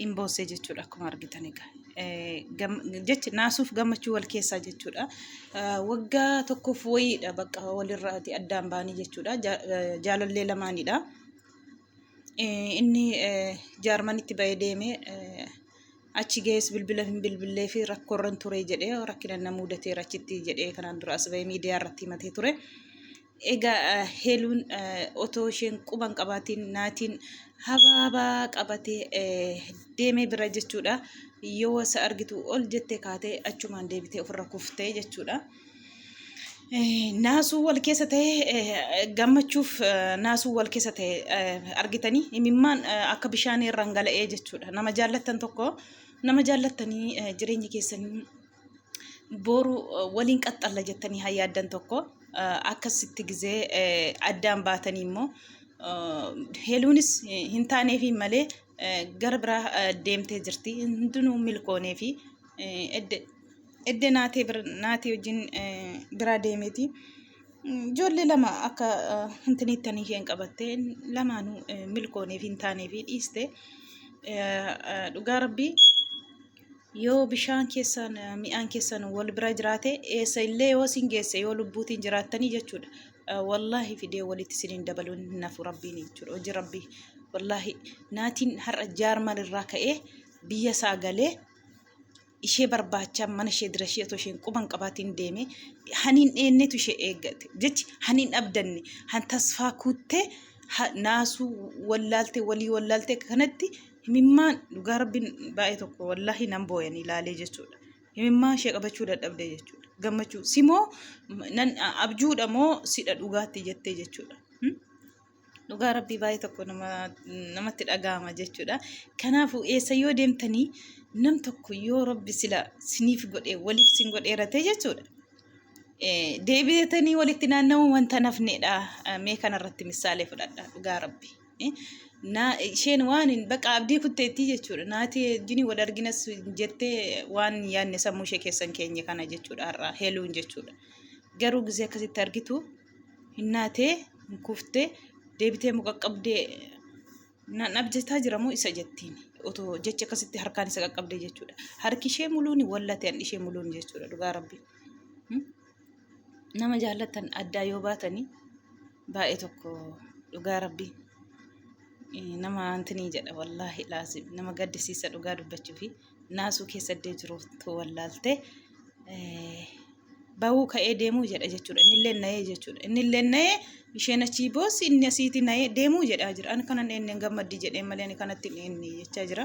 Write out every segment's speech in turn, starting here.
hin boossee jechuudha akkuma argitan egaa. Jechi naasuuf gammachuu wal keessaa jechuudha. Waggaa tokkoof wayiidha bakka walirraati addaan baanii jechuudha. Jaalallee lamaanidha. Inni jaarmanitti ba'ee deemee achi ga'ees bilbila hin bilbillee fi rakkoorran ture jedhee rakkina na mudateera achitti jedhee kanaan dura as ba'ee miidiyaa irratti himatee ture. Egaa Heeluun otoo isheen quba hin qabaatiin Naatiin habaabaa qabatee deemee bira jechuudha. Yoo isa argitu ol jettee kaatee achumaan deebitee ofirra kuftee jechuudha. Naasuu wal keessa ta'e gammachuuf naasuu wal keessa ta'e argitanii imimmaan akka bishaanii irraan gala'ee jechuudha. Nama jaallattan tokko nama jaallattanii jireenya keessanii boru waliin qaxxalla jettanii haa yaaddan tokko akkasitti gizee addaan baatanii immoo heeluunis hin taaneefi malee gara biraa deemtee jirti hundinuu milkooneefi edde naatee naatee wajjin biraa deemeeti. Ijoollee lama akka hintiniittanii isheen qabattee lamaanuu milkooneefi hin taaneefi dhiiste dhugaa rabbii. Yoo bishaan keessaan mi'aan keessan wal bira jiraate eessa illee yoo isin geesse yoo lubbuutiin jiraattanii jechuudha. Wallaahi fidee walitti isin hin dabaluun hin hafu rabbiin jechuudha hojii rabbii. Wallaahi naatiin har'a jaarman irraa ka'ee biyya isaa galee ishee barbaacha mana ishee dira ishee otoo isheen quban qabaatiin deeme haniin dheennetu ishee eeggate jechi haniin abdanne han tasfaa kuuttee naasuu wallaalte walii wallaalte kanatti Himimmaan dhugaa rabbiin baay'ee tokko wallaahi nan booyan ilaalee jechuudha. Himimmaa ishee qabachuu dadhabde jechuudha. Gammachuu si moo nan abjuudha moo sidha dhugaatti jettee jechuudha. Dhugaa rabbii baay'ee tokko namatti dhaga'ama jechuudha. Kanaafuu eessa yoo deemtanii nam tokko yoo rabbi sila siniif godhee waliif sin godheeratee jechuudha. Deebi'atanii walitti naanna'uun wanta nafneedha. Mee kanarratti misaalee fudhadha dhugaa rabbii. naa isheen waan hin baqa abdii kutteettii jechuudha. Naati jini wal arginas jettee waan yaadne sammuu ishee keessan keenya kana jechuudha har'aa heeluun jechuudha. Garuu gisee akkasitti argitu hin naatee hin kuftee deebitee muqaqqabdee nan abjetaa jira moo isa jettiin otoo jecha akkasitti harkaan isa qaqqabdee jechuudha. Harki ishee muluun wallate ishee muluun jechuudha dhugaa rabbii. nama jaallattan addaa yoo baatanii baay'ee tokko dhugaa rabbii nama antinii jedha wallaahi laazim nama gaddisiisa dhugaa dubbachuu fi naasuu keessadee jiruutu wallaalte bahuu ka'ee deemuu jedha jechuudha innillee na'ee jechuudha innillee na'ee isheen achii boossi inni asiiti na'ee deemuu jedhaa jira ani kanan eenneen gammaddi jedhee malee ani kanatti hin eenne jechaa jira.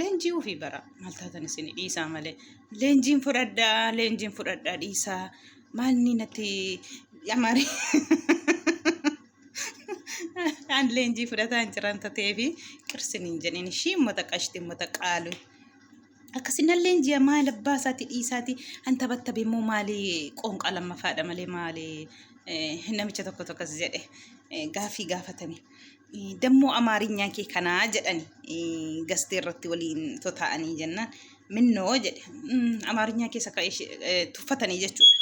leenjii ofii bara maal taatan isin dhiisaa malee leenjiin fudhadhaa leenjiin fudhadhaa dhiisaa maalni natti yamari aan leenjii fudhataa hin jiran tateefi qirsin hin jedhin ishii ummata qashti ummata qaalu. Akkasinalleen ji'a maal abbaa isaati dhiisaati an tabattabe immoo maali qoonqaa lammafaadha malee maali namicha tokko tokkos jedhe gaafii gaafatame. Dammoo amaarinyaa kee kanaa jedhani gastee irratti waliin totaa'anii jennaan minnoo jedhe amaarinyaa keessa ka'e tuffatanii jechuudha.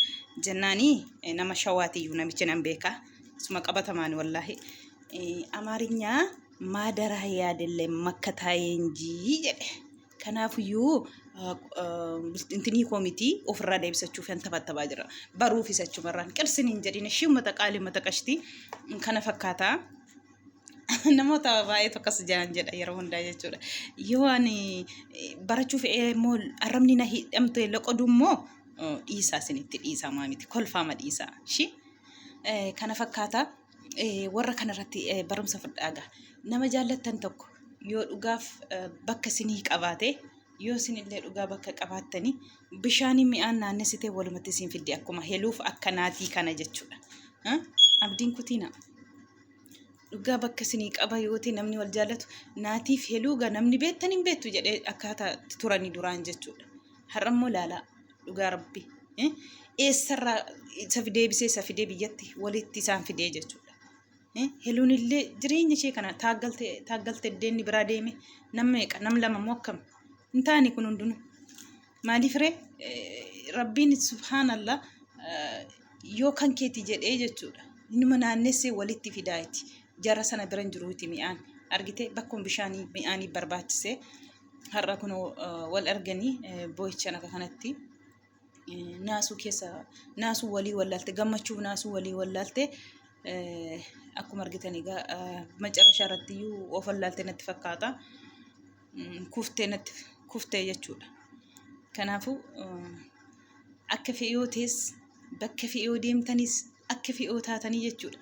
Jennaani nama shawaatiyyuu namichi nan beekaa suma qabatamaan wallaahi amaarinyaa Maadaraa yaadillee makka taa'ee hin jii jedhe. Kanaafiyyuu intinii koo miti ofirraa deebisachuuf hin tabattabaa jira. Baruufis achumarraan qirsin hin jedhin ishii uummata qaalii uummata qashtii kana fakkaata. Namoota baay'eetu akkas jaan jedha yeroo hundaa jechuudha. Yoo ani barachuuf immoo arrabni na hidhamte loqodu immoo dhiisaa isinitti dhiisaa maamiti kolfaama dhiisaa. Kana fakkaata. warra kanarratti barumsa fudhaaga. Nama jaallattan tokko yoo dhugaaf bakka isinii qabaate yoo isinillee dhugaa bakka qabaattanii bishaanii mi'aan naannessitee walumatti isin fiddi akkuma heluuf akka naatii kana jechuudha. Abdiin kutiina. Dhugaa bakka isinii qaba yooti namni wal jaallatu naatiif heluuga namni beettan hin beettu jedhee akkaataa turanii duraan jechuudha. Har'a immoo laalaa. dhugaa rabbi eessarraa isa fidee bisee isa fidee biyyatti walitti isaan fidee jechuudha. Heluun illee jireenya ishee kana taaggalte iddeenni biraa deeme nam meeqa nam lama moo akkam hin taane kun hundinuu. Maaliif ree rabbiin subhaanallah yoo kan keeti jedhee jechuudha. Inuma naannessee walitti fidaayiti. Jara sana biran jiruuti mi'aan. Argitee bakkuma bishaanii mi'aanii barbaachisee har'a kun wal arganii boo'ichaan akka kanatti naasuu keessa naasuu walii wallaalte gammachuuf naasuu walii wallaalte akkuma argitan egaa macarrashaa irratti iyyuu of wallaalte natti fakkaata kuftee natti kuftee jechuudha. Kanaafuu akka fe'ee yoo ta'es bakka fe'ee yoo deemtanis akka fi'oo taatanii jechuudha.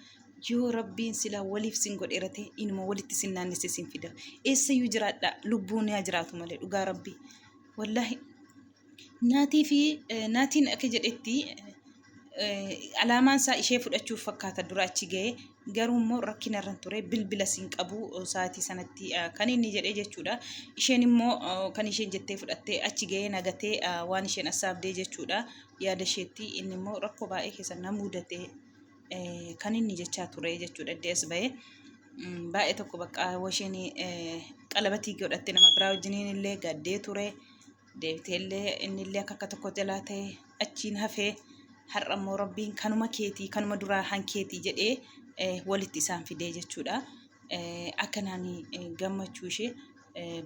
Yoo rabbiin silaa waliif sin godheera ta'e inuma walitti sin naannessee sin fida. Eessayyuu jiraadhaa lubbuun yaa jiraatu malee dhugaa rabbii. Wallaahi naatii fi eh, naatiin akka jedhetti eh, alaamaan isaa ishee fudhachuuf fakkaata dura achi ga'e garuu immoo rakkina irra hin ture bilbila sin qabu eh, sa'aatii sanatti eh, kan inni jedhee jechuudha. Isheen immoo eh, kan isheen jettee fudhattee achi ga'ee nagatee eh, waan isheen assaabdee jechuudha. yaada isheetti inni immoo rakkoo baay'ee keessa na mudate kan inni jechaa ture jechuudha iddoo as ba'ee baay'ee tokko bakka washeen qalabatii godhatte nama biraa wajjiniin illee gaddee ture deebitee illee inni illee akka akka tokko jalaa ta'e achiin hafee har'a immoo rabbiin kanuma keetii kanuma duraa hankeetii jedhee walitti isaan fidee jechuudha akkanaan gammachuu ishee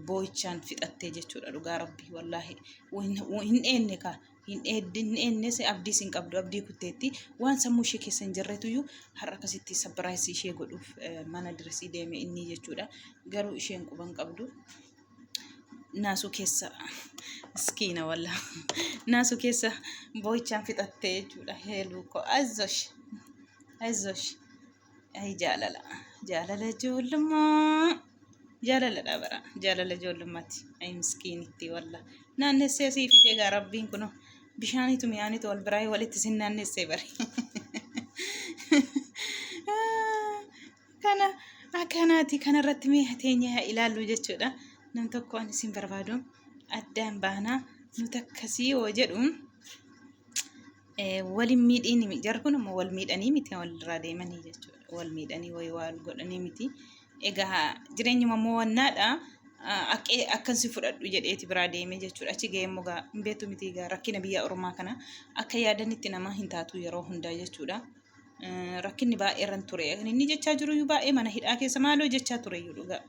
boo'ichaan fixattee jechuudha dhugaa rabbii wallaahi hin eenne kaa hin eennes abdiis hin qabdu abdii kutteetti waan sammuu ishee keessa hin jirretuyyuu har'a akkasitti sappiraayisii ishee godhuuf mana diresii deeme inni jechuudha garuu isheen quba hin qabdu naasuu keessa miskiina walla naasuu keessa boo'ichaan fixattee jechuudha heeluu koo azosh azosh Ay jaalala. Jaalala ijoollummaa. Jaalaladha bara. Jaalala ijoollummaati. Ay miskiinitti walla. Naannessee sii fidee gaa rabbiin kunoo. Bishaaniitu mi'aaniitu wal biraa walitti sin naannessee bari. Kana akkanaati kanarratti mee hateenya haa ilaallu jechuudha. Nam tokko ani sin barbaadu addaan baanaa nuti akkasii yoo jedhu. wal hin miidhiin miti. Jarri kun immoo wal miidhanii miti kan walirraa deemanii jechuudha. Wal miidhanii wayii wal godhanii miti. Egaa jireenyuma immoo wannaadha. Akkee akkan si fudhadhu jedheeti biraa deemee jechuudha. Achi ga'ee immoo gaa hin beektu miti egaa rakkina biyya ormaa kana akka yaadanitti namaa hin taatu yeroo hundaa jechuudha. Eh, Rakkinni baay'ee irran ture. Kan inni jechaa jiru iyyuu baay'ee mana hidhaa keessa maaloo jechaa ture iyyuu dhugaa.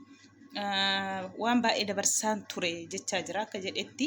Eh, Waan baay'ee dabarsaan ture jechaa jira akka jedhetti.